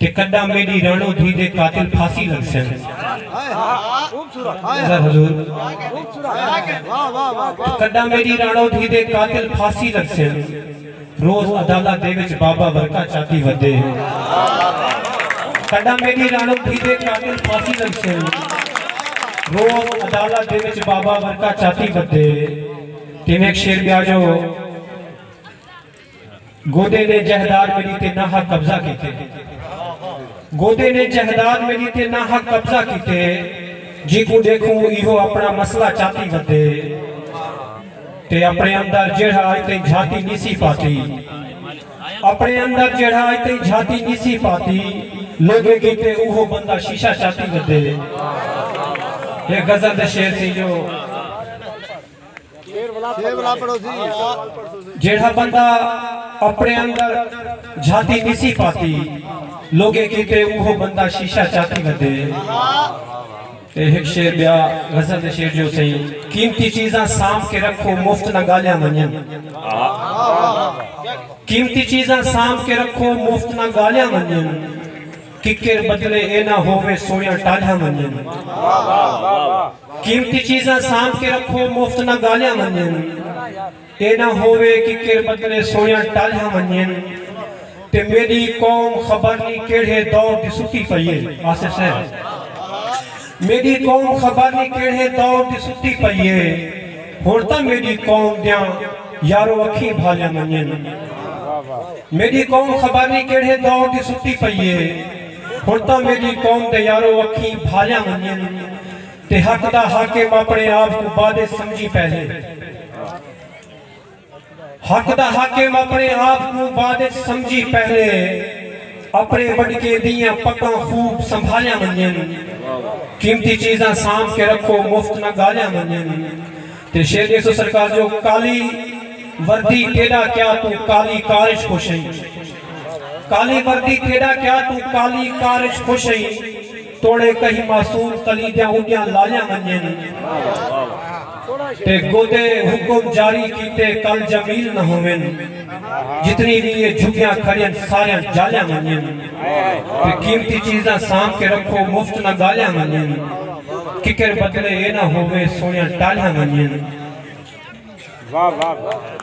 تے کڈاں میڈی رانو دھی دے قاتل پھاسی لگسن ذرا حضور تے کڈاں میڈی رانو دھی دے قاتل پھاسی لگسن روز عدالہ دے وچ بابا ورکا چاتی ودے کڈاں میڈی رانو دھی دے قاتل پھاسی لگسن روز عدالہ دے وچ بابا ورکا چاتی ودے تے میں ایک شعر بیا جو گودے نے جہداد میڈی تے نا حق قبضہ کیتے گودے نے جہداد میڈی تے نا حق قبضہ کیتے جیکوں ڈیکھوں ایہو اپنا مسئلہ چاتی ودے تے اپنے اندر جیڑھا اج تئیں جھاتی نیسی پاتی اپنے اندر جیڑھا اج تئیں جھاتی نیسی پاتی لوگیں کیتے اوہو بندہ شیشہ چاتی ودے اے غزل دے شعر سی جو جیڑھا بندہ اپݨے اندر جھاتی نسی پاتی لوگیں کیتے اوہو بندہ شیشہ چاتی ودے تے ہک شعر ٻیا غزل دے شعر جو سئیں قیمتی چیزاں سانبھ کے رکھو مفت نہ ڳالیاں ونڄن قیمتی چیزاں سانبھ کے رکھو مفت نہ ڳالیاں ونڄن ککر بدلے اے نہ ہووے سوئیاں ٹالیاں ونجن۔ قیمتی چیزاں سانبھ کے رکھو مفت نہ گالیاں ونجن۔ اے نہ ہووے ککر بدلے سوئیاں ٹالیاں ونجن۔ تے میڈی قوم خبر نی کیڑھے دور دی ستی پئی اے۔ آصف صاحب۔ میݙی قوم خبر نی کیڑھے دور دی ستی پئی اے ہݨ تاں میݙی قوم دیاں یارو اکھیں بھالیاں ونڄن میݙی قوم خبر نی کیڑھے دور دی ستی پئی اے ہݨ تاں میݙی قوم دے یارو اکھیں بھالیاں ونڄن تے حق دا حاکم اپݨے آپ کوں بادے سمجھی پہلے حق دا حاکم اپنے آپ کوں بعد اچ سمجھی پہلے اپنے وڈکے دیاں پکاں خوب سنبھالیاں ونجن قیمتی چیزاں سانب کے رکھو مفت نہ گالیاں ونجن تے شیر ڈیکھ سو سرکار جو کالی وردی تیڈا کیا تو کالی کارش خوش ہیں کالی وردی تیڈا کیا تو کالی کارش خوش ہیں توڑے کہیں معصوم کلیدیاں اڈیاں لالیاں ونجن تے گودے حکم جاری کیتے کل جمیل نہ ہوون جتنی بھی یہ جھگیاں کھڑیاں ساریاں جالیاں ونجن تے قیمتی چیزاں سام کے رکھو مفت نہ گالیاں ونجن ککر بدلے یہ نہ ہووے سونیاں ٹالیاں ونجن واہ واہ واہ